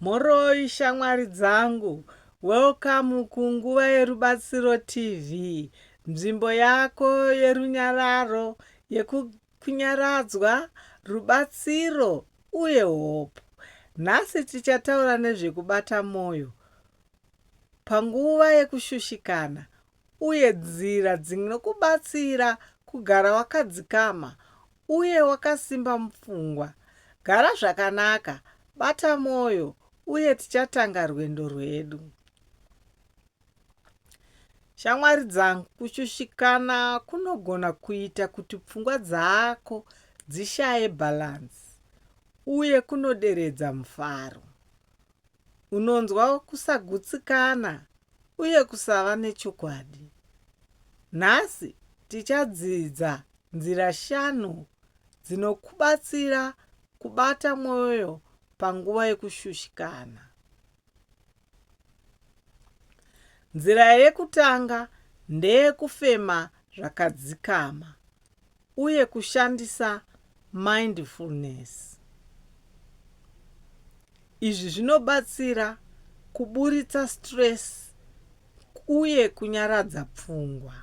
Mhoroi shamwari dzangu, welcome ku Nguva yerubatsiro TV, nzvimbo yako yerunyararo, yekunyaradzwa, rubatsiro uye hope. Nhasi tichataura nezvekubata moyo panguva yekushushikana uye nzira dzinokubatsira kugara wakadzikama uye wakasimba mupfungwa. Gara zvakanaka, bata mwoyo, uye tichatanga rwendo rwedu. Shamwari dzangu, kushushikana kunogona kuita kuti pfungwa dzako dzishaye bhalanzi uye kunoderedza mufaro. unonzwa kusagutsikana uye kusava nechokwadi. Nhasi tichadzidza nzira shanu dzinokubatsira kubata mwoyo panguva yekushushikana. Nzira yekutanga ndeyekufema zvakadzikama. uye kushandisa mindfulness. Izvi zvinobatsira kuburitsa stress uye kunyaradza pfungwa.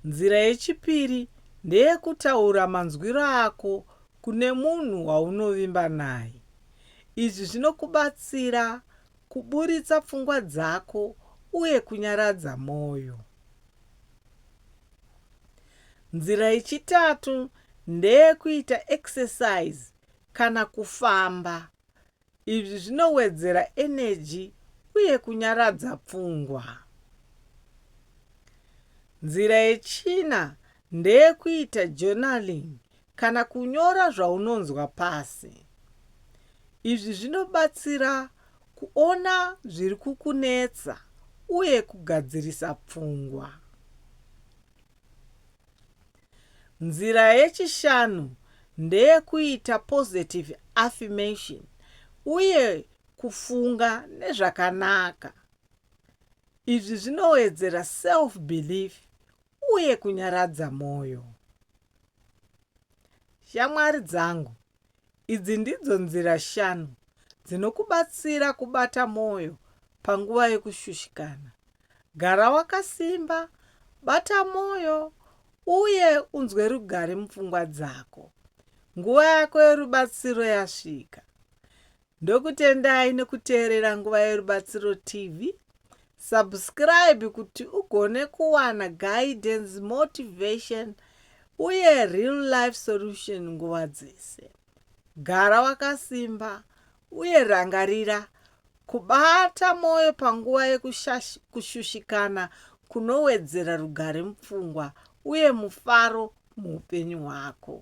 Nzira yechipiri ndeyekutaura manzwiro ako kune munhu waunovimba naye. Izvi zvinokubatsira Kuburitsa pfungwa dzako uye kunyaradza mwoyo. Nzira yechitatu ndeyekuita exercise kana kufamba. Izvi zvinowedzera eneji uye kunyaradza pfungwa. Nzira yechina ndeyekuita journaling Kana kunyora zvaunonzwa pasi. Izvi zvinobatsira kuona zviri kukunetsa uye kugadzirisa pfungwa. Nzira yechishanu ndeyekuita positive affirmation uye kufunga nezvakanaka. Izvi zvinowedzera self-belief uye kunyaradza mwoyo. Shamwari dzangu, idzi ndidzo nzira shanu dzinokubatsira kubata mwoyo panguva yekushushikana. Gara wakasimba, bata mwoyo, uye unzwe rugare mupfungwa dzako. Nguva yako yerubatsiro yasvika. Ndokutendai nekuteerera Nguva Yerubatsiro TV. Subscribe kuti ugone kuwana guidance, motivation uye real life solution nguva dzese. Gara wakasimba uye rangarira kubata mwoyo panguva yekushushikana kunowedzera rugare mupfungwa uye mufaro muupenyu hwako.